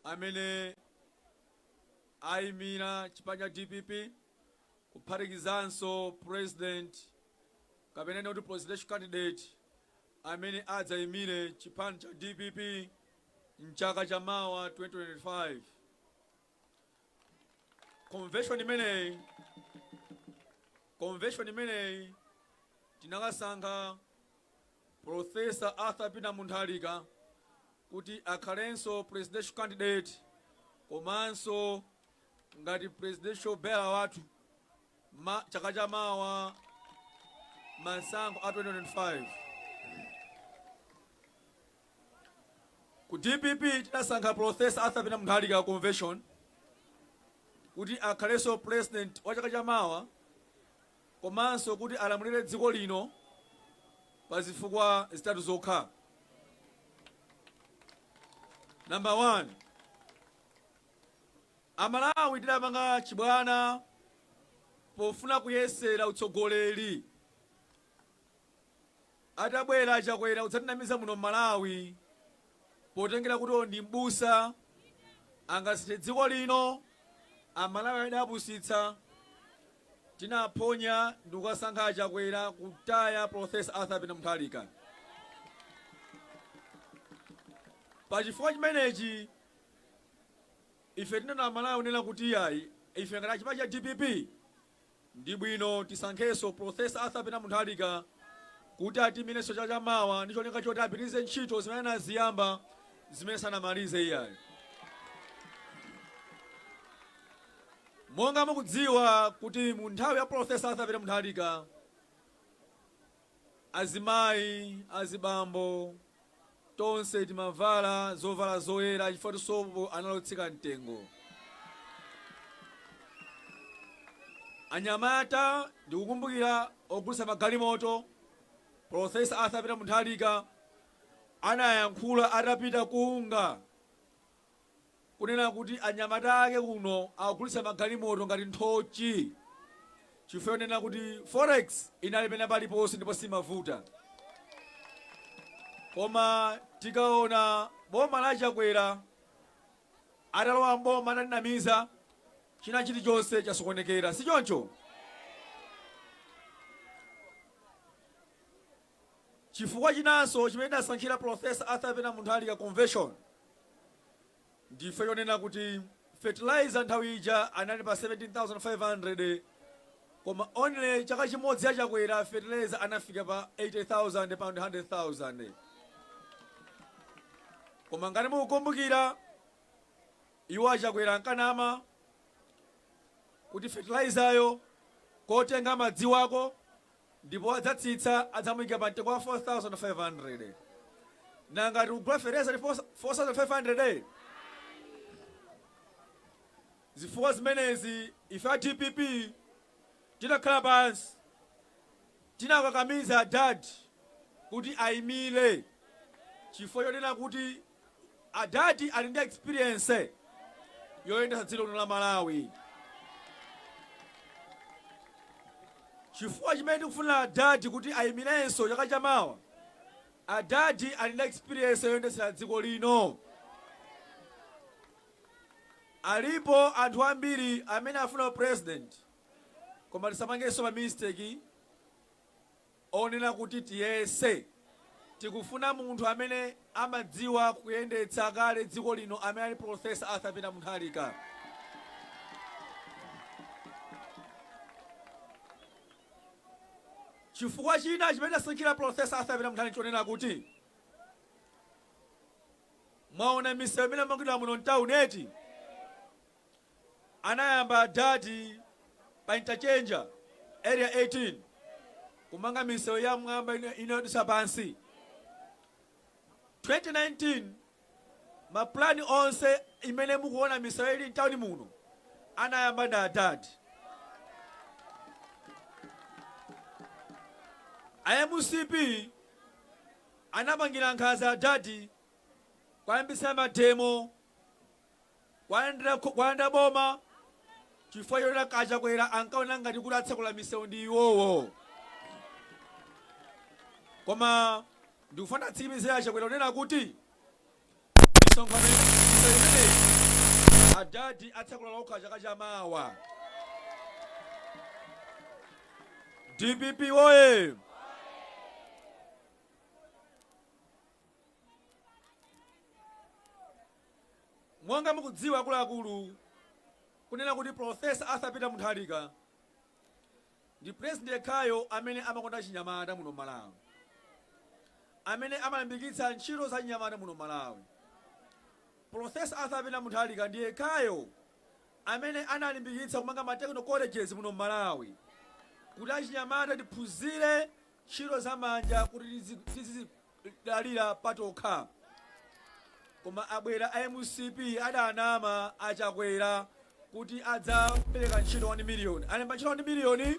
amene ayimira chipani cha dpp kuphatikizanso president kapena kunena kuti presidential candidate amene adzayimire chipani cha dpp mchaka cha mawa 2025 convention imeneyi tinakasankha Prof. Arthur Peter Mutharika kuti akhalenso presidential candidate komanso ngati presidential bearer wathu mchaka cha mawa masankho a 2025. Ku DPP tinasankha Prof. Arthur Peter Mutharika convention kuti akhalenso president wa chaka cha mawa komanso kuti alamulire dziko lino pa zifukwa zitatu zokha. Number one, Amalawi tidapanga chibwana pofuna kuyesera utsogoleri Atabwera achakwera kudzatinamiza muno mmalawi potengera kuti uyo ndi m'busa angasinthe dziko lino amalawi adawapusitsa tinaphonya ndikukasankha achakwera kutaya professor arthur peter mutharika pachifukwa chimenechi ife tinena amalawi kunena kuti iyayi ife ngati achipani cha dpp Ndi bwino tisankhenso Professor Arthur Peter Mutharika kuti atiyimirenso chaka cha mawa ndi cholinga choti apitirize ntchito zimene anaziyamba zimene sanamalize iyayi. Monga mukudziwa kuti mu nthawi ya Professor Arthur Peter Mutharika Azimayi, azibambo, tonse timavala zovala zoyera chifukwa choti sopo anali wotsika mtengo. Anyamata, ndikukumbukira ogulitsa magalimoto, Prof. Arthur Peter Mutharika, anayankhula atapita ku UNGA. kunena kuti anyamata ake kuno akugulitsa magalimoto ngati nthochi chifukwa yonena kuti forex inali pena paliponse ndipo simkavuta koma tikaona boma la chakwera atalowa mboma atatinamiza china chilichonse chasokonekera si choncho Chifukwa chinanso chimene tidasankhira Prof. Arthur Peter Munthalika Convention ndi chifukwa chonena kuti fertilizer nthawi ija anali pa 17,500 koma only chaka chimodzi ya Chakwera fertilizer anafika pa 80,000 pa 100,000. Koma ngati mukukumbukira iwo a Chakwera ankanama kuti fertilizer yo kotenga amadziwako Ndipo adzatsitsa, adzamuika pa mtengo wa 4,500. Nanga tikugula fertilizer ndi 4,500? Zifukwa zimenezi, ife a dpp tinakhala pansi, tinakakamiza adad kuti ayimire chifukwa chonena kuti Adadi ali ndi experience yoyendetsa dziko lino la Malawi. Chifukwa chimene tikufunira Adadi kuti ayimirenso chaka cha mawa, Adadi ali ndi experience yoyendetsera dziko lino. Alipo anthu ambiri amene akufuna u president koma tisapangenso ma mistake. onena kuti tiyese. Tikufuna munthu amene amadziwa kuyendetsa kale dziko lino amene ali Prof. Arthur Peter Muntharika. Chifukwa china chimene tasankhira Prof. Arthur Peter Muntharika nchonena kuti mwaona misewu imene yamangidwa muno mtauni eti? anayamba adad pa interchange area 18 kumanga misewu ya mmwamba ina yodutsa pansi 2019 mapulani onse imene mukuona misewu ili mtawuni muno anayamba ndi adad a mcp anapangira nkhaza adadi kuyambitsa mademo Kuwalanda boma chifukwa choti a Chakwera ankaona ngati kuti atsekula misewu ndi iwowo. Koma ndikufuna ndiwatsimikizire a Chakwera kunena kuti misonkhano misewu imeneyi adadi atsekula okha chaka cha mawa. DPP woye! Monga mukudziwa akuluakulu, kunena kuti Prof. Arthur Peter Muntharika ndi president yekhayo amene amakonda achinyamata muno Malawi, amene amalimbikitsa ntchito za achinyamata muno Malawi. Prof. Arthur Peter Muntharika ndi yekhayo amene analimbikitsa kumanga ma technical colleges muno Malawi kuti achinyamata tiphunzire ntchito za manja kuti tizizidalira patokha koma abwera a mcp adanama a chakwera kuti adzapereka ntchito 1 million alemba ntchito 1 million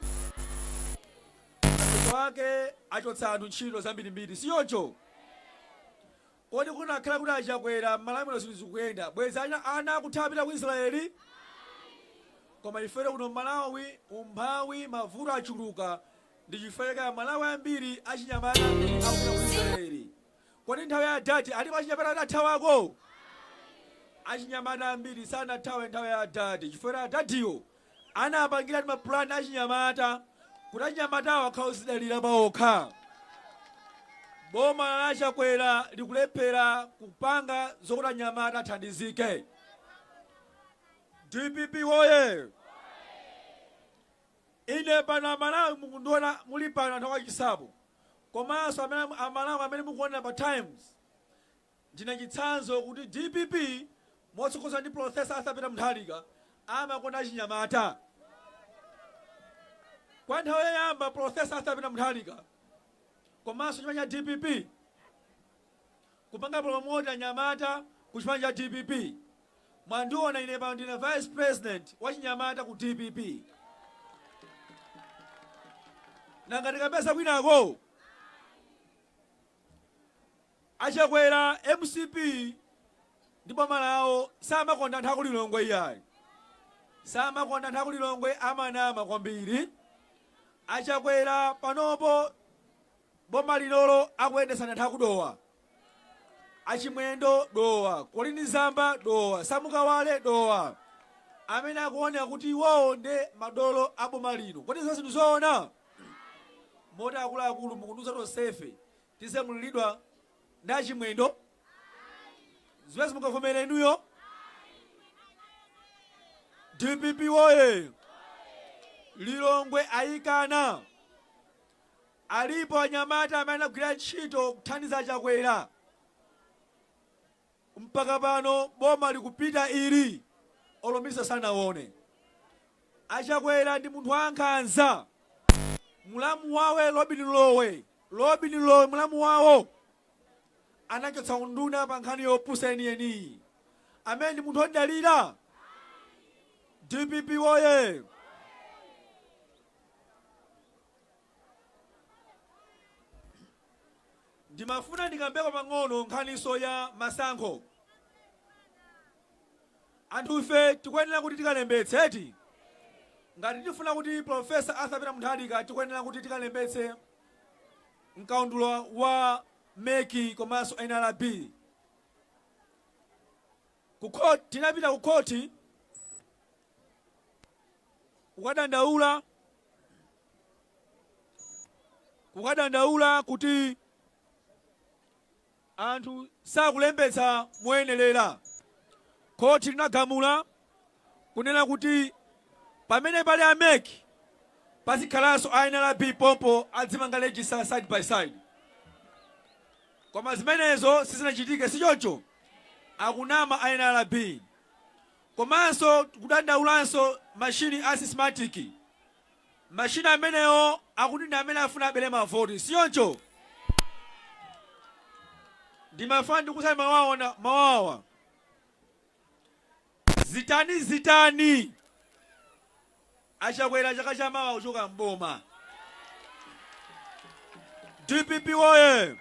mapeto ake achotsa anthu ntchito zambirimbiri si choncho Kodi kunakhala kuti a Chakwera m'Malawi zinthu zikuyenda bwezi ana ana akuthawa kupita ku Israel? Ayi. Koma ifetu kuno Malawi umphawi mavuto achuluka ndichifukwa chake a Malawi ambiri achinyamata ambiri akupita ku Israel. Kodi nthawi ya adadi alipo achinyamata oti athawako? Ayi. Achinyamata ambiri sanathawe nthawi ya adadi chifukwa choti adadiwo Anapangiratu ma plan achinyamata kuti achinyamatawo akhale ozidalira paokha. Boma la Chakwera likulephera kupanga zokuti anyamata athandizike. Dpp woyee! Ine pano amalawi mukundiona muli pano anthu akwa Chinsapo komanso amene amalawi amene mukuonera pa times Ndine chitsanzo kuti dpp motsogozedwa ndi Prof. Arthur Peter Mutharika amakonda achinyamata. Kwa nthawi yoyamba Prof. Arthur Peter Mutharika komanso chipani cha dpp kupanga promote anyamata ku chipani cha dpp. Mwandiona ine pano ndine Vice President wachinyamata ku dpp. Nanga tikapeza kwinako? A Chakwera, mcp ndi boma lawo samakonda anthu aku Lilongwe iyayi. Samakonda anthu aku Lilongwe amanama kwambiri. A Chakwera panopo boma linolo akuyendetsa ndi anthu aku Dowa. A Chimwendo Dowa, Colleen Zamba Dowa, Sam Kawale Dowa. Amene akuoneka kuti iwowo nde madolo a boma lino. Kodi zonsezi ndi zoona? Moti akuluakulu mukundiuza tonsefe Tizilamulidwa ndi achimwendo? Zimenezo mungavomere inuyo? Dpp woye! Lilongwe ayikana. Alipo anyamata amene anagwira ntchito kuthandiza a Chakwera. Mpaka pano boma likupita ili olo Nissan sanawone. Achakwera ndi munthu wankhanza. Mulamu wawo Lobin Lowe, Lobin Lowe mulamu wawo anachotsa unduna pa nkhani yopusa yeniyeni. Amene ndi munthu odalira? Dpp woye! Ndimafuna ndikambeko pang'ono nkhaniso ya masankho. Anthu ife tikuyenera kuti tikalembetse eti? Ngati tifuna kuti Prof. Arthur Peter Muntharika tikuyenera kuti tikalembetse mkaundula wa mec komanso nrb. Tinapita ku khoti kukadandaula. kukadandaula kuti anthu sakulembetsa moyenerera, khoti linagamula kunena kuti pamene pali a mec pazikhalanso a nrb pompo adzimanga legisita side by side koma zimenezo sizinachitike sichoncho akunama a nrb komanso kudandaulanso mashini a sisimatiki Machine amenewo akuti ndi amene afuna abele mavoti sichoncho? Ndimafuna ndikuuzani mawawa zitani zitani achakwera chaka cha mawa kuchoka m'boma. Dpp woye!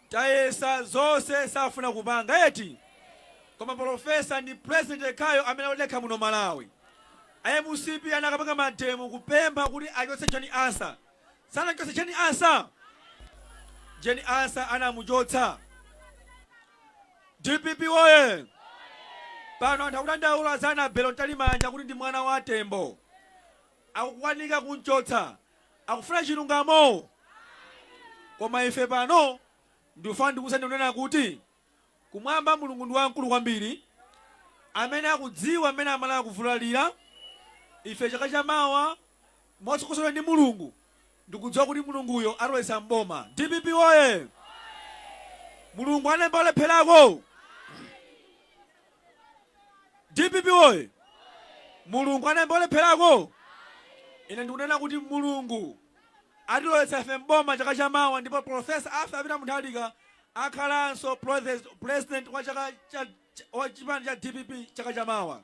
Tayesa zonse safuna kupanga eti koma polofesa ndi president yekhayo amene odekha muno malawi a mcp anakapanga mademo kupempha kuti achotse jane ansah sanamchotse jane ansah jane ansah anamuchotsa dpp woye pano anthu akudandaula za anabelo mtalimanja kuti ndi mwana wa tembo akukwanika kumchotsa akufuna chilungamo koma ife pano ndikufuna ndikuuzani kunena kuti kumwamba mulungu ndi wamkulu kwambiri amene akudziwa mmene amalawi akuvulalira ife chaka cha mawa motsogozedwa ndi mulungu ndikudziwa kuti mulunguyo atilowetsa mboma dpp oye mulungu anayamba walepherako Dpp woye! Mulungu anayamba walepherako? Ine ndikunena kuti Mulungu atilowetsa ife m'boma chaka cha mawa ndipo Prof. Arthur Peter Muntharika akhalanso President wa chipani cha dpp chaka cha mawa.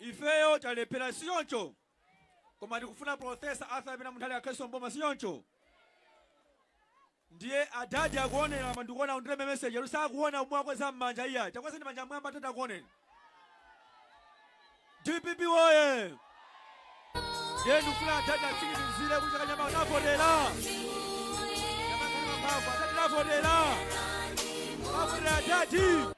Ifeyo talephera sichoncho? Koma tikufuna Prof. Arthur Peter Muntharika akhalenso m'boma sichoncho? Ndiye a Dad akuonera apa ndikuona akundilemba message ero sakuona omwe akweza m'manja iyayi. Takwezani manja m'mwamba tata akuoneni. DPP woye! Ndiye ndikufuna a Dad atsimikizire kuti chaka chamawa tavotera. A Dad tavotera. Tavotera Dad.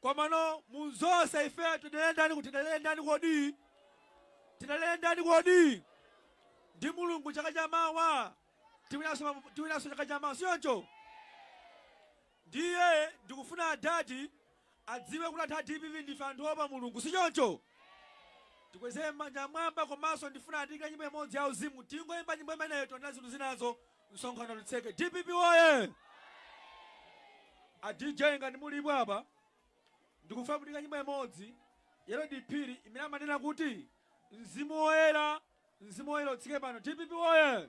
Komano muzonse ife tidalire ndani kuti tidalire ndani kodi? Tidalire ndani kodi? Ndi Mulungu chaka cha mawa tiwinanso mapu- tiwinanso chaka cha mawa sichoncho? Ndiye ndikufuna adadi adziwe kuti anthu a DPP ndife anthu opa Mulungu sichoncho? tikwezere manja mwamba komanso ndifuna andiikire nyimbo imodzi ya uzimu tingoyimba nyimbo imeneyo tionenso zinthu zinazo Msonkhano uli tseke. DPP woye! A DJ ngati mulipo apa ndikufuna mundiikire nyimbo imodzi ya Lloyd Phiri imene amanena kuti mzimu woyera mzimu woyera utsike pano DPP woye!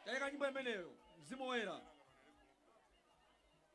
Taika nyimbo imeneyo mzimu woyera.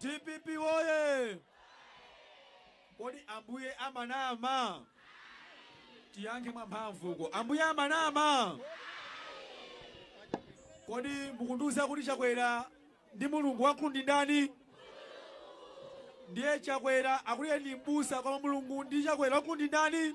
Dpp woye! Kodi Ambuye amanama? Tiyankhe mwamphamvu uko. Ambuye amanama? Kodi mukundiuza kuti Chakwera ndi Mulungu wamkulu ndi ndani? Ndiye Chakwera akuti iye ndi m'busa koma Mulungu ndi Chakwera wamkulu ndi ndani?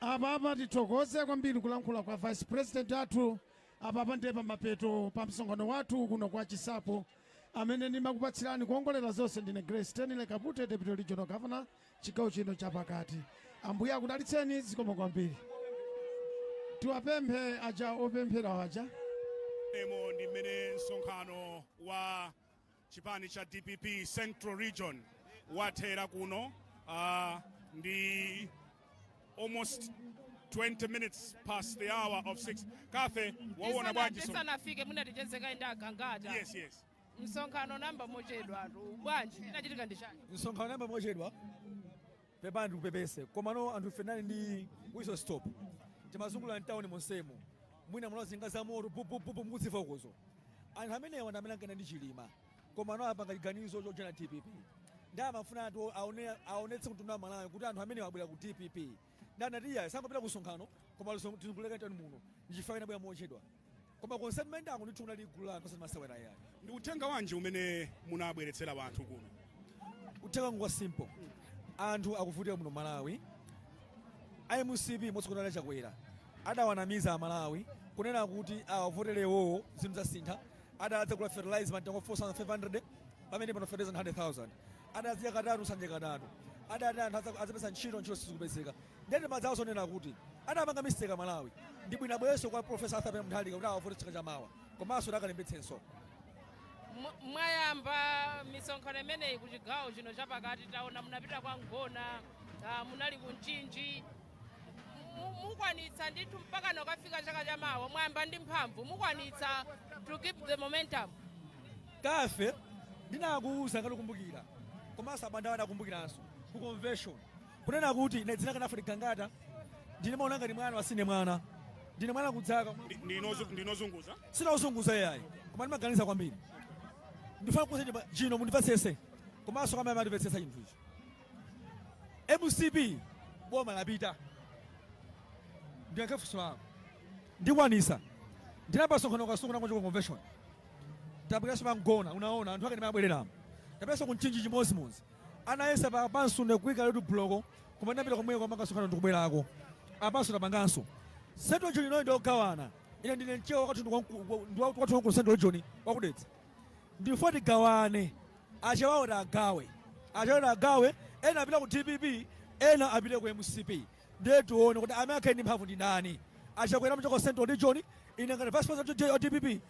Apapa tithokoze kwambiri kulankhula kwa vice president athu. Apapa ndiye pamapeto pa msonkhano wathu kuno kwa Chisapo amene ndimakupatsirani kuongolera zonse ndine Grace Stanley Kapute Deputy Regional Governor chigawo chino chapakati. Ambuye akudalitseni zikomo kwambiri. Tiwapemphe aja opemphera aja. Emo ndi mmene msonkhano wa Chipani cha dpp central region wathera kuno uh, ndi almost 20 minutes past the hour of 6 Kathy waona bwanji so- tisanafike mungatichezeke ndi agangata yes yes msonkhano unayamba mochedwa tu bwanji inachitika ndi chani msonkhano unayamba mochedwa Pepani ndikupepese komano anthu ife tinali ndi whistle stop timazungulira mtauni monsemo mwina munamva njinga za moto pupupupu mukuzimva ukozo anthu amenewa ndi amene ankayenda ndi chilima koma pano apanga chiganizo chojoina dpp nde amafuna kuti aone- aonetse mtundu wa malawi kuti anthu amenewa abwera ku dpp nde anati iyayi sangopita ku msonkhano koma tizungulire mtauni muno ndichifukwa tinabwera mochedwa Koma konse timayendako ndithu kunali gulu la anthu osati masewera yayi. Ndi uthenga wanji umene munabweretsera wanthu kuno? Uthenga wanga wa simple. Anthu akuvutika muno Malawi. A mcp motsogozedwa ndi Chakwera adawanamiza a Malawi kunena kuti awavotere iwowo zinthu zidzasintha. Adati adzagula fertilizer mtengo wa 4500 pamene pano fertilizer 100,000. Adati adzadya katatu sakudya katatu. Adati anthu adzapeza ntchito ntchito sizikupezeka. Ndiye timadziwa zonena kuti adapanga mistake amalawi ndibwino abwerenso kwa professor Arthur Peter Mutharika kuti awavote chaka chamawa komanso kuti akalembetsenso Mwa- mwayamba misonkhano imeneyi ku chigawo chino chapakati taona munapita kwa mgona ah, munali ku mchinji Mu- mukwanitsa ndithu mpakana kukafika chaka chamawa mwayamba ndi mphamvu mukwanitsa to keep the momentum Cathy ndinakuuza ngati ukumbukira komanso abanda adakumbukiranso ku convention kunena kuti ine dzina langa Alfred gangata ndine maona ngati mwana wasine mwana ndine mwana kuzaka ndinozunguza sinauzunguza yayi koma ndimaganiza kwambiri ndifuna kukuza chimba chino mundimvesese komanso kwamene matipesesa chinthu ichi mcp boma lapita ndiyankhe funso lako ndikwanisa ndinapanga msonkhano kasonkhana kwa chiko convention tapitanso pa mgona unaona anthu ake ndimabwereramo tapitanso ku mchinji chimodzimodzi anayesa pa pamseu ndi kuika road block koma ndapita komweko tapanga msonkhano ndikubwerako apanso tapanganso central region inoyo ndiogawana ine ndine mchewa wakwathu ndiwakwathu waku central region waku Dedza ndifuna tigawane achewawo tagawe achewawo tagawe ena apite ku dpp ena apite ku mcp ndiye tione kuti amene akhale ndi mphamvu ndi ndani achakwera amachoka central region ine ngati vice president wa dpp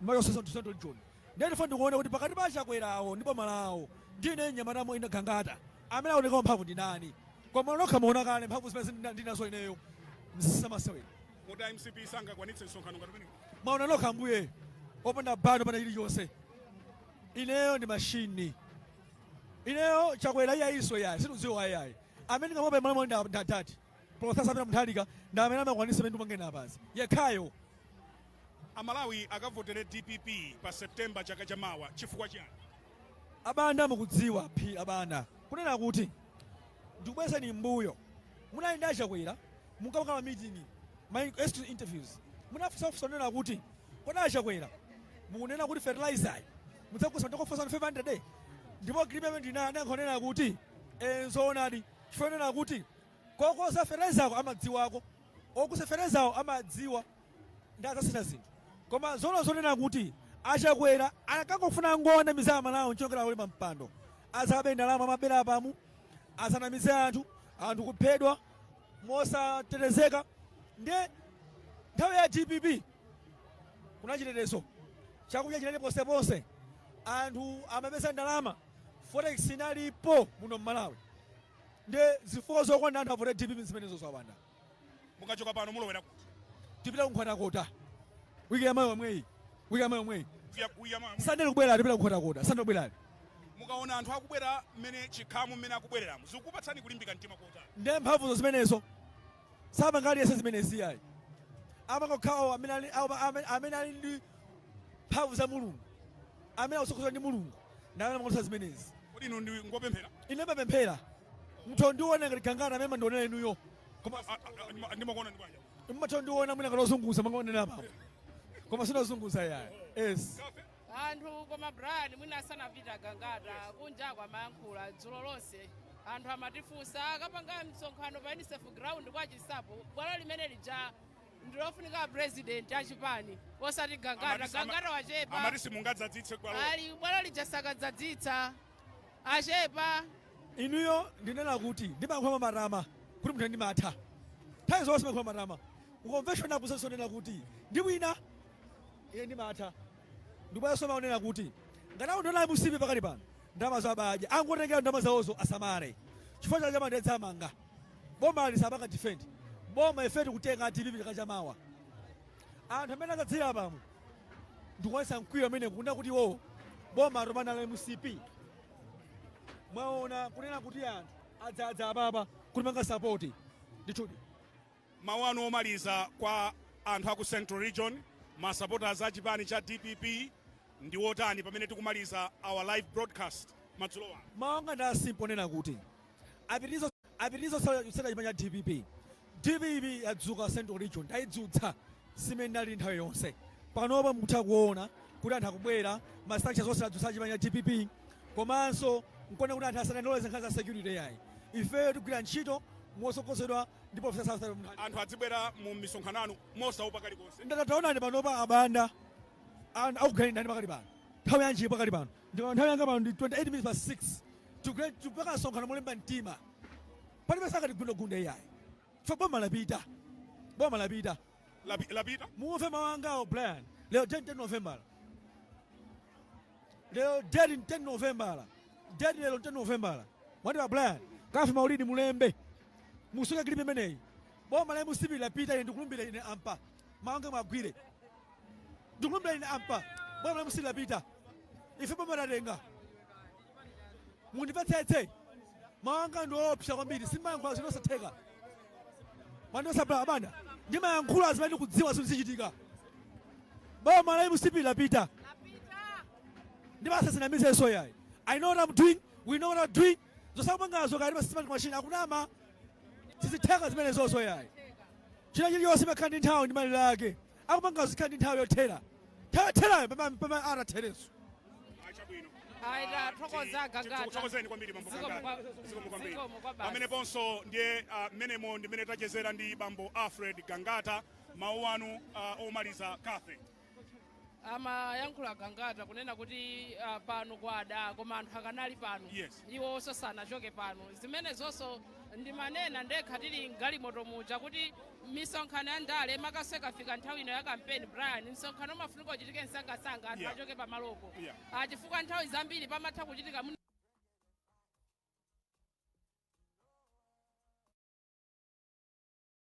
ndimachokanso central region Ndiye ndifuna ndikuone kuti pakati pa achakwerawo ndi boma lawo ndine mnyamata mo ine gangata amene aoneka wamphamvu ndi ndani koma nokha mwaona kale mphamvu zimene zina- ndili nazo ineyo si zamasewera Kodi a mcp sangakwanitse msonkhano ngati umenewu? mwaona nokha ambuye opanda bano opanda chilichonse ineyo ndi mashini ineyo chakwera iyayiso yayi sindimdziwa yayi amene ndingamuope malawi muno ndi adadi Prof. Arthur Peter Mutharika ndi amene amakwanitsa zimene tikunena apazi, yekhayo. A Malawi akavotere dpp pa September chaka cha mawa chifukwa chiyani? A Banda mukudziwa a Banda kunena kuti ndikubwezeni m'mbuyo munali ndi a Chakwera munkapanga ma meeting ma exclusive interviews munafunsa funso kunena kuti kodi a Chakwera mukunena kuti fertilizer yi mudzagulitsa ndi 4500 ndipo agreement ndinayo anayankha kunena kuti eh, nzoonadi chifukwa kunena kuti Kogulitsa feterezako amadziwako ogulitsa feterezawo amadziwa ndi adzasintha zinthu koma zoona zonena kuti achakwera ankangofuna kungowanamiza amalawi ncholinga akhale pampando azabe ndalama amabera apamu azanamize anthu anthu kuphedwa mosatetezeka ndi nthawi ya dpp kunali chitetezo chakudya chinali ponseponse anthu amapeza ndalama forex inalipo muno mmalawi Nde zifukwa zokwana anthu avote dpp nzimenezozo abanda. Mukachoka pano mulowera kuti? Tipita ku Nkhotakota week yamawa yomweyi, week yamawa yomweyi. Sunday likubwera tipita ku Nkhotakota, Sunday likubwerali. Mukaona anthu akubwera mmene chikhamu mmene akubwereramo zikupatsani kulimbika mtima kotani? Nde mphamvuzo zimenezo sapanga aliyense zimenezi iyayi, koma ngokhawo amene ali ndi mphamvu za Mulungu. amene akutsogozedwa ndi mulungu ndi amene amakhoza zimenezi kodi inu ndi ngopemphera ine ndimapemphera muthondiona ngati gangata amene mumandionera inuyo koma A- a- a- ndima- ndimakuona ndi banja muthondiona mwina ngati ozunguza mangaonera apapo koma sindozunguza iyayi yes cathy anthu koma brian mwina asanapita gangata kunjako amayankhula dzulo lonse anthu amatifunsa akapanga msonkhano pa unicef ground kwa chinsapo bwalo limene lija ndilofunika apresident achipani osati gangata Amati- ama- gangata wachepa amati simungadzadzitse bwalolo. ali bwalo lija sakadzadzitsa achepa inuyo ndinena kuti ndimayankhula mwamatama kuti munthu ndimatha nthawi zonse ndimayankhula mwamatama ku convention kusenso ndinena kuti ndiwina ine ndimatha ndibwaso maonena kuti ngati akundiona a mcp pakali pano ndamazo abadya angotengera ndama zawozo asamale chifukwa chaka chamawa ndidzawamanga bomali sapanga defend boma ife tikutenga dpp chaka chamawa anthu amene adzadzira pano ndikuonesa mkwiyo amene kunena kuti iwowo boma atopa nalo la mcp mwaona kunena kuti anthu adzadza apapa kutipanga support ndithudi mawu anu omaliza kwa anthu aku central region masupporters a chipani cha dpp ndi wotani pamene tikumaliza our live broadcast madzulo ano mawu anga ndi a simple kunena kuti apitilize kutsatira chipani cha dpp dpp yadzuka central region tayidzutsa si mmene inali nthawi yonse panopa mukutha kuona kuti anthu akubwera ma structures onse adzutsa chipani cha dpp komanso nkuona kuti anthu asadandaule za nkhani za security yayi ifeyo tigwira ntchito motsogozedwa ndi profesa Arthur Peter Mutharika. anthu adzibwera mu misonkhano yanu mosaopa kalikonse nde taonani panopa abanda anthu akuganidani pakali pano nthawi yanji pakali pano Ndipo nthawi yanga pano ndi 28 minutes past 6. Tigwire tikupanga msonkhano molimba mtima. Palibe sakatigundagunde iyayi. Chifukwa boma lapita. Boma lapita. Lapi- lapita Muwamve mawu angawo Brian. Lero date 10 November. Lero date 10 November. Date lero 10 November. Mwatira Brian. Cathy Maulidi mulembe. Musunge clip imeneyi. Boma la MCP lapita ine ndikulumbira ine apa. Mawu anga muwagwire. ndikulumbira ine apa boma la mcp lapita ife boma tatenga mundimvetsetse mawanga ndi oopsa kwambiri sindimayankhula zinthu zosatheka mandosabala abanda ndimayankhula zimene ndikudziwa zinthu zichitika boma la mcp lapita ndipo asadzinamizenso yayi i know what i'm doing we know what i'm doing zosakumangazo kaya ndi ma systematic machine akunama sizitheka zimenezozo yayi china chilichonse imakhala ndi nthawi ndi malire ake akumangazo zikhala ndi nthawi yothera nthawi yotherayo pamene pamene athere chabwino Ayi, tathokoza Gangata. tikuthokozeni kwambiri bambo Zikomo Gangata. kwa- Zikomo kwambiri zikomo kwa basi. pameneponso ndiye ah, mmenemo ndi mmene tachezera ndi bambo alfred gangata mawu anu ah, omaliza cathe amayankhula gangata kunena kuti ah, pano kwada koma anthu akanali pano Yes. iwo onse sanachoke pano zimenezonso ndimanena ndekha tili mgalimoto muja kuti misonkhano ya ndale makaka ikafika nthawi ino ya kampeni brian msonkhano umafunika uchitike msangasanga anthu Yeah. achoke pamalopo Yeah. Ah, chifukwa nthawi zambiri pamatha kuchitika mwina